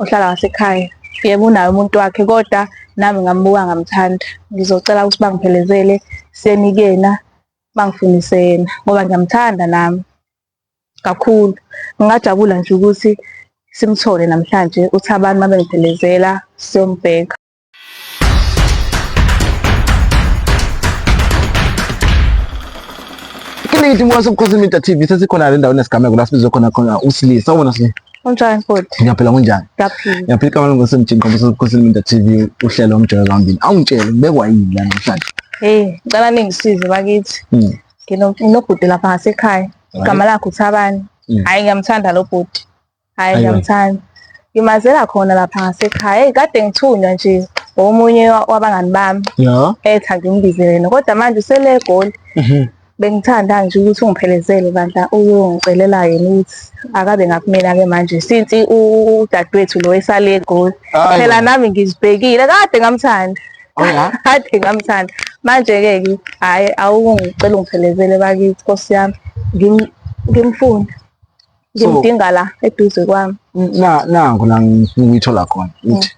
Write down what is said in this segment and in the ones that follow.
ohlala ngasekhaya yebo unaye umuntu wakhe kodwa nami ngambuka ngamthanda ngizocela ukuthi bangiphelezele senikena bangifundise yena ngoba ngiyamthanda nami kakhulu ngingajabula nje ukuthi simthole namhlanje uthi abantu mabengiphelezela siyombheka Ithi mwa sobukhosini Media TV sesikhona le ndawo nesigameko la sibizwe khona khona usilisa ubona sile. Unjani futhi? Ngiyaphila kunjani? Ngiyaphila. Ngiyaphila kama longo semjini ngoba sobukhosini Media TV uhlelo omjolo zambili. Awungitshele ngibekwa yini la namhlanje? Hey, ngicela ningisize bakithi. Hmm. Nginobhuti lapha ngasekhaya. Igama lakhe uThabani. Hmm. Hayi ngiyamthanda lo bhuti. Hayi Ayiwa. ngiyamthanda. Ngimazela khona lapha ngasekhaya. Hey kade ngithunywa nje omunye wa- wabangani bami Ya. etha ngimbizele yena. Kodwa manje usele egoli. Mhm. Bengithanda nje ukuthi ungiphelezele bandla uyongicelela yena ukuthi akabe ngakumina ke manje since u- udadewethu lo esale egoli. Ayiwa. Phela nami ngizibhekile kade ngamthanda. Oh, ya? Kade ngamthanda. Manje ke ke hayi awungicela ungiphelezele bakithi Nkosi yami. Ngim- Ngimfuna. ngimdinga la eduze kwami na nangu la ngifuna ukuyithola khona ukuthi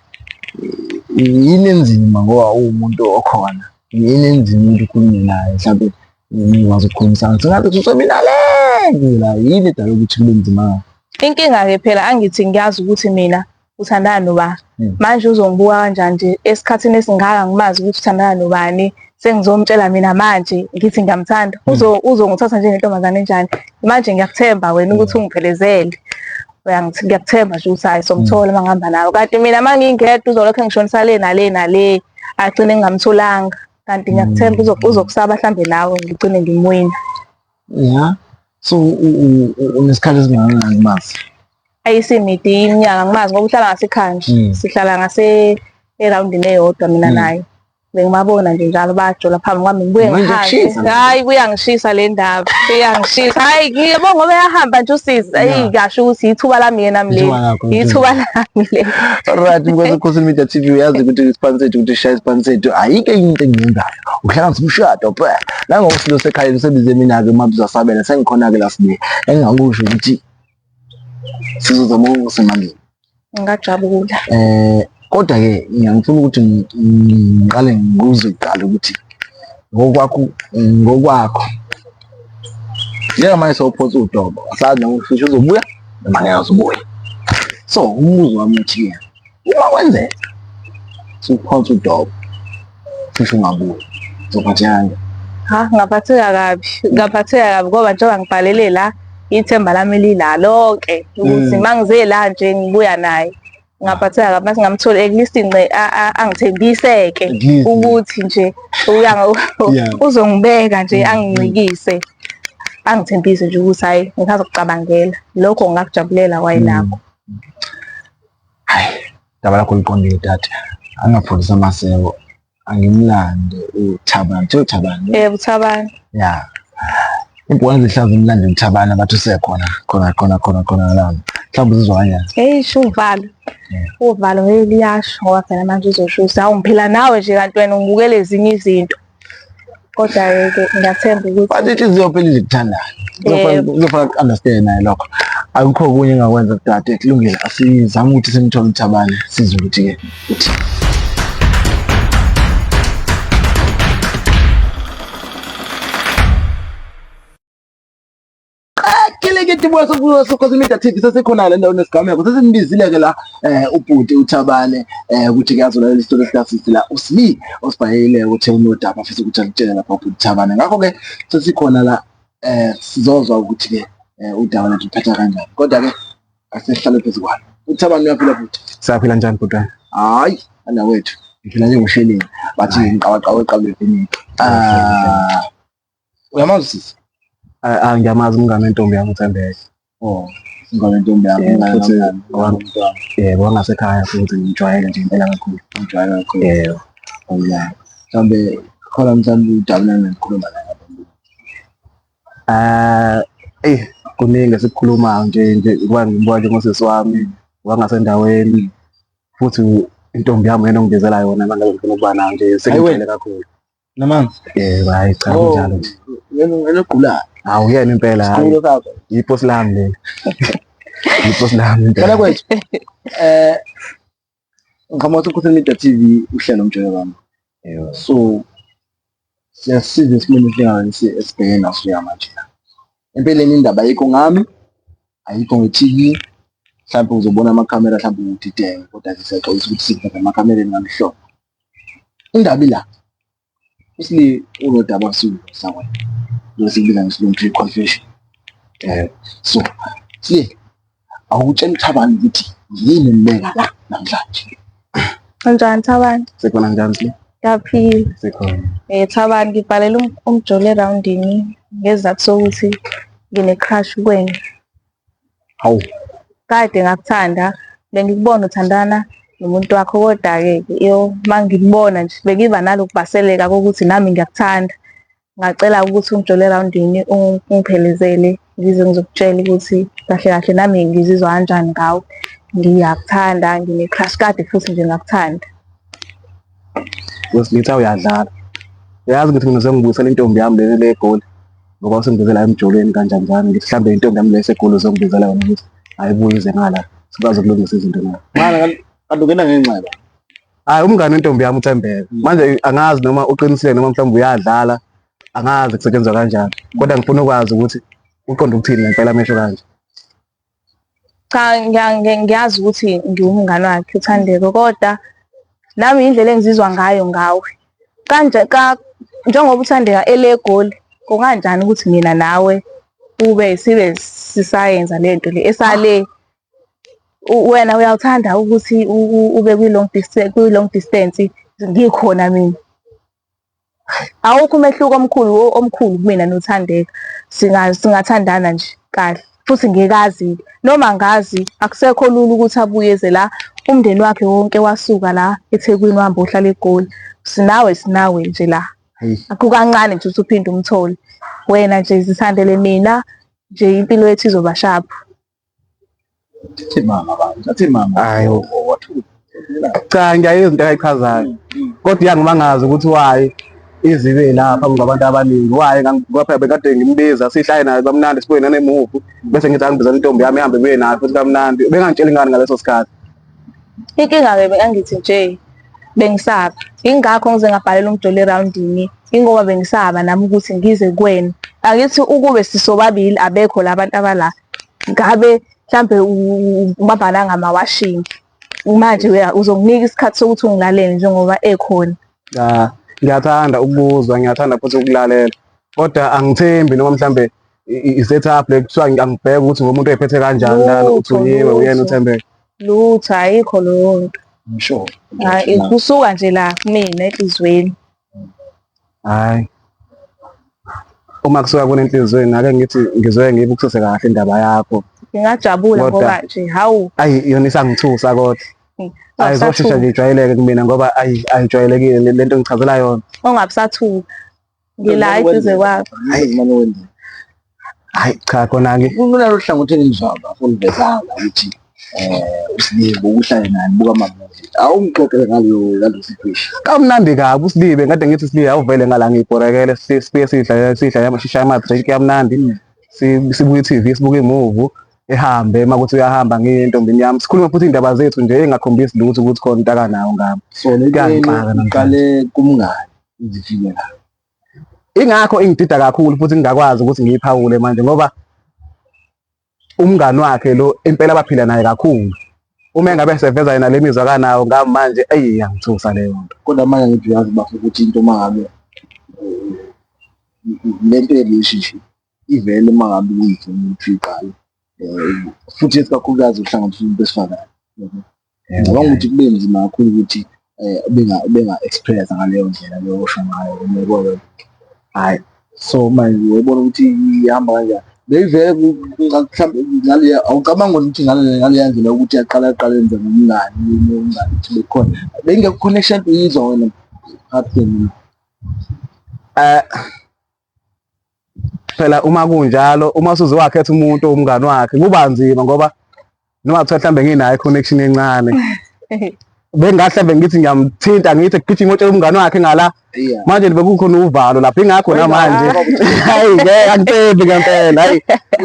yini enzima ngoba uwumuntu okhona yini enzima umuntu ukhulume naye mhlawumbe ngikwazi ukukhulumisana sengabe kuseminaleke la yini edala ukuthi kube nzima inkinga-ke phela angithi ngiyazi ukuthi mina uthandana nobani hmm. manje uzongibuka kanjani nje esikhathini esingaka ngimazi ukuthi uthandana nobani sengizomtshela mina manje ngithi ngiyamthanda hmm. uzo uzongithatha njengentombazane enjani manje ngiyakuthemba wena ukuthi hmm. ungiphelezele uyangithi ngiyakuthemba nje ukuthi hayi somthola uma ngihamba nawe kanti mina uma ngingedwa uzolokhu engishonisa le nale nale agcine ngingamtholanga kanti ngiyakuthemba uzokusaba mhlambe nawe ngigcine ngimwina ya so unesikhathi esingakanani umazi ayisimidi iminyaka ngimazi ngoba uhlala ngasekhaya nje Mm. sihlala ngase erawundini eyodwa mina Mm. naye bengibabona nje njalo bayajola phambi kwami ngibuye Manje ngihambe kushisa manje. hayi kuyangishisa le ndaba kuyangishisa hayi ngiyabo ngoba yahamba nje usisi ayi Yeah. kasho ukuthi yithuba lami yena mleli Ithuba lakho, yithuba lami le Alright, mkwezi Khosi Media TV uyazi ukuthi isiphani sethu ukuthi shaya isiphani sethu ayike into engiyenzayo. uhlanganisa umshado bra nangoba silo sekhaya lisebize mina-ke uma bizasabela sengikhona-ke la sibe engingakusho ukuthi sizozama ukungisa emalini ngingajabula um kodwa-ke ngiyangifuna ukuthi ngiqale ngikuze kuqala ukuthi ngokwakho ngokwakho njengamanje sewuphonsa udobo asazi noma ufisha uzobuya noma ngeke uzobuya so umbuzo wami uthiyena uma kwenzeka siphonsa udobo cishe ungabuya zophathekani ha ngaphatheka kabi ngaphatheka kabi ngoba njengoba ngibhalele la ithemba lami lila lonke ukuthi mm. mangize la nje ngibuya naye ngaphatheka kabi mase ngamthola at least nce angithembiseke ukuthi nje uya uzongibeka nje mm, angincikise mm. angithembise nje ukuthi hayi ngithatha ukucabangela lokho ngakujabulela wayinakho Hayi, daba lakho liqondile dade. Angapholisa amaseko. Angimlande uThabani. Kuthiwa uThabani. Eh uThabani. Ya. Ibhola lihlaza umlande uThabani abathi usekhona khona khona khona khona la. Mhlawumbe uzizwa kanjani? Hey shuvalo. Uvalo hey liyasho ngoba phela manje uzoshusa. Awu ngiphila nawe nje kanti wena ungibukela ezinye izinto. kodwa-ke ke ngiyathemba ukuthi but inhliziyo phela izikuthandayo Yebo. kuzofana ku-understande naye lokho akukho okunye engakwenza kudade kulungile asizame ukuthi simthole uthabane sizwe ukuthi-ke qakileketi buya sokhosi media tv sesikhona le ndawo nesigameko sesimbizile-ke la um ubhuti uthabane um ukuthi kuyazolalela isitori esikasisi la usli osibhayile ukuthi unodaba afisa ukuthi alutshele lapha ubhuti uthabane ngakho-ke sesikhona la um sizozwa ukuthi-ke um udaba lethu luphetha kanjani kodwa-ke asihlale phezu kwalo uthabane uyaphila bhuti siyaphila njani bhutwana hhayi anawethu ngiphila njengosheleni bathi ngiqawaqawa eqabulebhiniki Uyamazi sisi? Ah, ah, ngiyamazi umngane wentombi yami uThembeke. Oh, ingane ntombi yami Yeah, ingane futhi yami, wa- ingane yami. Yebo, wangasekhaya futhi ngijwayele nje impela kakhulu. Ngijwayele kakhulu. Yebo. Awuyazi. Mhlawumbe khona mhlawumbe ujabulana nokukhuluma naye. Ah, eh kuningi esikukhulumayo nje nje kuba ngibuka nje ngosisi wami wangasendaweni futhi intombi yami yena ongibizela yona manje ngifuna ukuba nayo nje sengijwayele kakhulu. namanzi eh hayi cha Oh. kunjalo nje yena wena ogulayo hawu yena impela hayi Sikhulu sakho. yiposi lami leli yiposi lami impela. Cela kwethu. Eh ngicabanga ukuthi ukhuluma into TV uhlelo mjolo wami. Yebo. So siyasiza isimini esingayo esibhekene naso yamanje. Empeleni indaba ayikho ngami, ayikho nge-TV. Mhlawumbe uzobona amakhamera mhlawumbe udideke kodwa ke siyaxolisa ukuthi sikuveza emakamereni ngamehlobo. Indaba ila. Isli unodaba kusulu sakwena. Lo sikubiza ngesilungu tree confession. Eh so, sli awutshela uThabani ukuthi yini embeka la namhlanje. Kanjani Thabani? Sikhona njani sile? Ngiyaphila. Sikhona. Eh Thabani ngibhalela um- umjolo eroundini ngezizathu sokuthi ngine-crush kwena. Hawu, Kade ngakuthanda bengikubona uthandana nomuntu wakho kodwa-ke yo uma ngikubona nje bengiba nalokubhaseleka kokuthi nami ngiyakuthanda. Ngacela ukuthi ungijole erawundini ungiphelezele ngize ngizokutshela ukuthi kahle kahle nami ngizizwa kanjani ngawo. Ngiyakuthanda ngine-crush kade futhi nje ngakuthanda. Wesilitha uyadlala. Uyazi ukuthi mina sengibuyisela intombi yami leli le egoli ngoba usengibizela emjolweni kanjani njani ngithi mhlawumbe intombi yami le esegoli uzongibizela yona ukuthi ayibuye ize ngala sikwazi ukulungisa izinto na. Mara kanti ungena ngenxeba. hayi umngane wentombi yami uthembeka manje angazi noma uqinisile noma mhlawumbe uyadlala angazi kusetshenzwa kanjani kodwa ngifuna ukwazi ukuthi uqonda ukuthini ngempela amehlo kanje cha ngiya- ngi- ngiyazi ukuthi ngiwumngane wakhe uthandeko kodwa nami indlela engizizwa ngayo ngawe kanje ka njengoba uthandeka elegoli kunganjani ukuthi mina nawe ube sibe sisayenza lento le esale wena uyawuthanda ukuthi ube kwi-long distance, kwi-long distance ngikhona mina. Awukho umehluko omkhulu omkhulu kumina noThandeka. Singathandana nje kahle futhi ngikazi noma ngazi akusekho lula ukuthi abuye eze la umndeni wakhe wonke wasuka la eThekwini wahamba ohlala eGoli. Sinawe sinawe nje la. Kukancane nje ukuthi uphinde umthole. Wena nje zithandele mina nje impilo yethu izoba sharp. Thathe mama abantu, thathe mama. Hayi cha ngiyaye izinto ayichazayo kodwa iyangimangaza ukuthi wayi izibe lapha ngabantu abaningi waye kwaphela bekade ngimbiza sihlaye naye kamnandi sibuye nanemuvu bese ngithi angibiza intombi yami ihambe ibuye nayo futhi kamnandi bengangitsheli ngani ngaleso sikhathi inkinga-ke bekangithi nje bengisaba ingakho ngize ngabhalela umdoli erawundini ingoba bengisaba nami ukuthi ngize kuwena angithi ukube sisobabili abekho la bantu abala ngabe mhlambe ubabhala ngamawashini manje uzonginika isikhathi sokuthi ungilalele njengoba ekhona cha ngiyathanda ukubuzwa ngiyathanda futhi ukulalela kodwa angithembi noma mhlambe i-setup le kuthiwa angibheke ukuthi ngomuntu oyiphethe kanjani lana uthuliwe uyena uthembeke lutho ayikho leyo nto sure kusuka nje la kumina ehlizweni hayi uma kusuka kunenhliziyo ngake ngithi ngizoye ngibukisise kahle indaba yakho ngingajabula Kodwa- ngoba nje hawu ayi yona isangithusa kodwa Mm. ayi zoshesha Awusathuki. nje ijwayeleke kumina ngoba ayi ayijwayelekile le- lento engichazela yona ongabusathuka ngila eduze kwakho Hayi. Manje wenzeni? hayi cha khona-ke kunalo hlangothi engizwayo bafo ngivezanga ukuthi um usibibe uhlale naye buka amamuvi awungixoxele ngaleyo ngaleyo situation kamnandi kabi usibibe ngade ngithi usibibe awuvele ngala ngiyibhorekele si- sibuye sidla sidla yama- sishaye ama-drink yamnandi si- sibuke i-tv sibuke imuvu ehambe uma kuthi uyahamba ngintombini yami sikhulume futhi iy'ndaba zethu nje engakhombisi lutho ukuthi khona intakanawo ngami so le Kuyangixaka nto namhlanje. iqale kumngani izifike la ingakho ingidida kakhulu futhi ngingakwazi ukuthi ngiyiphawule manje ngoba umngani wakhe lo impela baphila naye kakhulu uma engabe seveza yena le mizwa kanawo ngami manje eyi yangithusa leyo nto kodwa manje ngithi uyazi bafo ukuthi into uma ngabe le nto ye-relationship ivele uma ngabe uyithe umuntu uyiqala um futhi esikakhulukazi uhlanganiswa umuntu besifazane Ngicabanga ukuthi kube nzima kakhulu ukuthi eh, ubenga-experience ngaleyo ndlela leyo osho ngayo umekolo hhayi so manje uyobona ukuthi ihamba kanjani beyivele mhlawumbe ingane awucabanga ukuthi ingane ngaleya ndlela ukuthi yaqala yaqala yenze ngomngani umngani ukuthi bekhona beyingekho connection uyizwa wena ngathi mina um eh, Phela uma kunjalo uma usuze wakhetha umuntu umngani wakhe kuba nzima ngoba noma kuthiwa mhlawumbe nginayo i-connection encane bengahle mbe ngithi ngiyamthinta ngithi gijima otshela umngane wakhe ngala manje bekukhona uvalo lapho ingakho namanje hayi ngeke angithembi ngempela hayi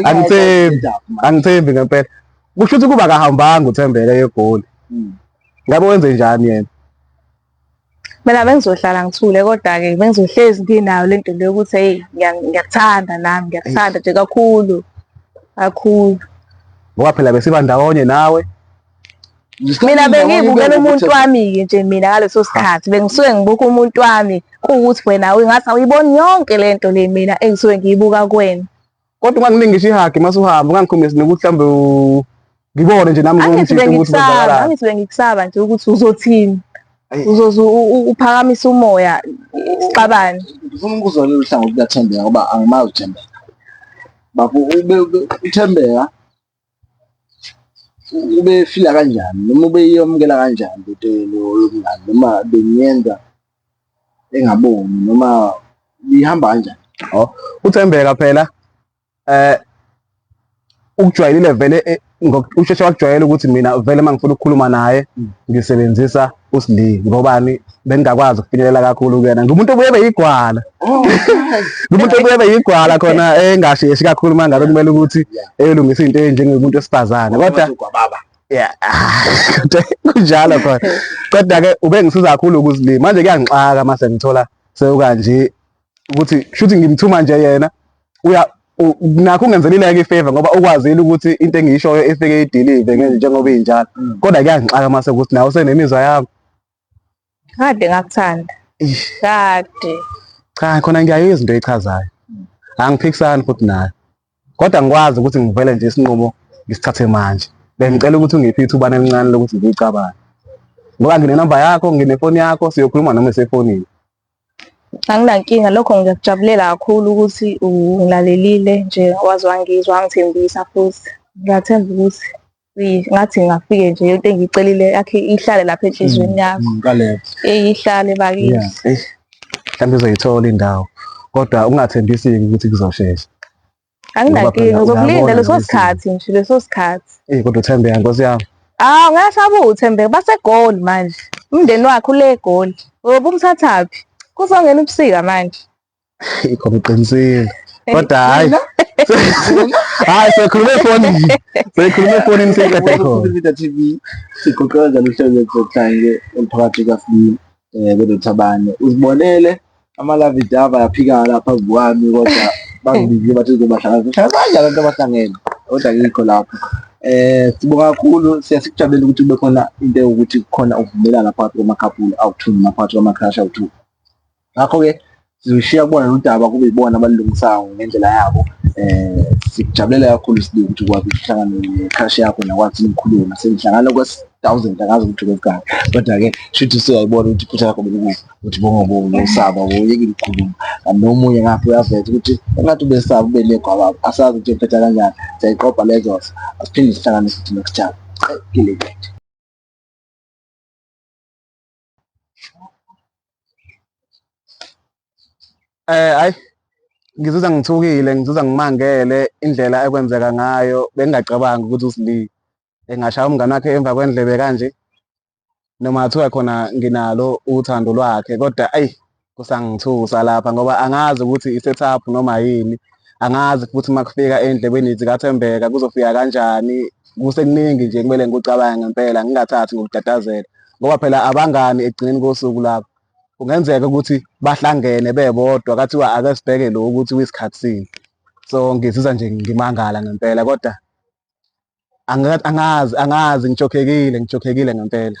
angithembi angithembi ngempela kusho ukuthi kuba kahambanga uthembeke yegoli hmm. ngabe wenze njani yena Mina bengizohlala ngithule kodwa-ke bengizohlezi nginayo le nto le yokuthi hheyi ngiyakuthanda nami ngiyakuthanda nje kakhulu kakhulu ngoba phela besiba ndawonye nawe mina bengiyibukela umuntu wami-ke nje mina ngaleso sikhathi bengisuke ngibuka umuntu wami kuwukuthi wena ngathi awuyiboni yonke le nto le mina engisuke ngiyibuka kuwena Kodwa ungangilingisha ihagi mase uhamba ungangikhombisi nokuthi mhlawumbe ngibone nje nami ngomjita ukuthi kwenzakalani. Angithi bengikusaba nje ukuthi uzothini. Uzoze uphakamise umoya sixabane. Ngifuna ukubuza lolu hlangothi lukaThembeka ngoba angimazi uThembeka. Bafo ube uThembeka ubefila kanjani noma ubeyamukela kanjani into yobungani noma benyenza engaboni noma bihamba kanjani oh uthembeka phela eh ukujwayelile vele eh, ngokusheshe wakujwayela ukuthi mina vele mangifuna ukukhuluma naye mm. ngisebenzisa uSli ngobani bengingakwazi ukufinyelela kakhulu kuyena ngumuntu obuye ebe yigwala oh, ngumuntu obuye ebe yigwala khona engasheshi kakhulu uma ngabe kumele ukuthi eyolungisa into enjengomuntu wesifazane kodwa yeah kunjalo khona kodwa ke ubengisiza kakhulu ukuzilima manje kuyangixaka mase ngithola sewukanje ukuthi shuthi ngimthuma nje yena uya nakho ungenzelileke ifavor ngoba ukwazile ukuthi into engiyishoyo ifike idilive njengoba injalo mm. kodwa kuyangixaka mase ukuthi nawe usenemizwa yami kade ngakuthanda kade cha khona ngiyayo izinto echazayo angiphikisani futhi nayo kodwa ngikwazi ukuthi ngivele nje isinqumo ngisithathe manje bengicela ukuthi ungiphe ithuba elincane lokuthi ngiyicabange ngoba nginenamba yakho nginefoni yakho siyokhuluma noma esefonini Anginankinga lokho ngiyakujabulela kakhulu ukuthi ungilalelile nje waze wangizwa wangithembisa futhi. Ngiyathemba ukuthi ngathi ngingafike nje into engiyicelile yakhe ihlale lapha enhliziyweni mm, yakho. Mm, Eyi ihlale bakithi. Mhlawumbe uzoyithola indawo kodwa ungathembisi-ke ukuthi kuzoshesha. Anginankinga uzokulinda leso sikhathi nje leso sikhathi. Eh kodwa uthembeka nkosi yami. Ah ngasaba uthembeka basegoli manje. Umndeni wakhe ule egoli. Ngoba umthathaphi? Kuzongena ubusika manje. Ikho ngiqinisile. Kodwa hayi. Hayi sekhulume phone nje. Sekhulume phone nje kade khona. TV. Siqoqela njalo uhlelo lokuhlangana umphakathi kaFlip. eh kodwa Thabane uzibonele amalavi dava yaphika lapha phambi kwami kodwa bangibizile bathi uzobahlangana hlangana abantu abahlangene kodwa ngikho lapho eh sibonga kakhulu siyasikujabulela ukuthi kube khona into ukuthi kukhona ukuvumelana phakathi kwamakhapulu awuthuni naphakathi kwamakhrashi awuthuni ngakho-ke sizoshiya kubona nodaba kube yibona abalungisayo ngendlela yabo eh sikujabulela kakhulu sibili ukuthi ukwazi ukuhlangana necrush yakho nakwazi ukukhuluma sengihlangana kwes thousand angazi ukuthi kwekani kodwa ke shuthi siyayibona ukuthi iphutha lakho belikuphi ukuthi bongobo usaba uyeke ukukhuluma nomunye ngapha uyaveza ukuthi engathi ubesaba ubelego ababo asazi ukuthi ephetha kanjani siyayiqopha lezos asiphinde sihlanganise ukuthi next time kile Eh hayi ngizuza ngithukile ngizuza ngimangele indlela ekwenzeka ngayo bengingacabangi ukuthi uSli engashaya umngane wakhe emva kwendlebe kanje noma kuthiwa khona nginalo uthando lwakhe kodwa ayi kusangithusa lapha ngoba angazi ukuthi i-setup noma yini angazi futhi uma kufika endlebeni zikathembeka kuzofika kanjani kusekuningi nje kumele ngikucabange ngempela ngingathathi ngokutatazela ngoba phela abangani ekugcineni kosuku lapho kungenzeka ukuthi bahlangene bebodwa kathiwa ake sibheke lo ukuthi wisikhathi sini so ngizizwa nje ngimangala ngempela kodwa angazi angazi ngijokhekile ngijokhekile ngempela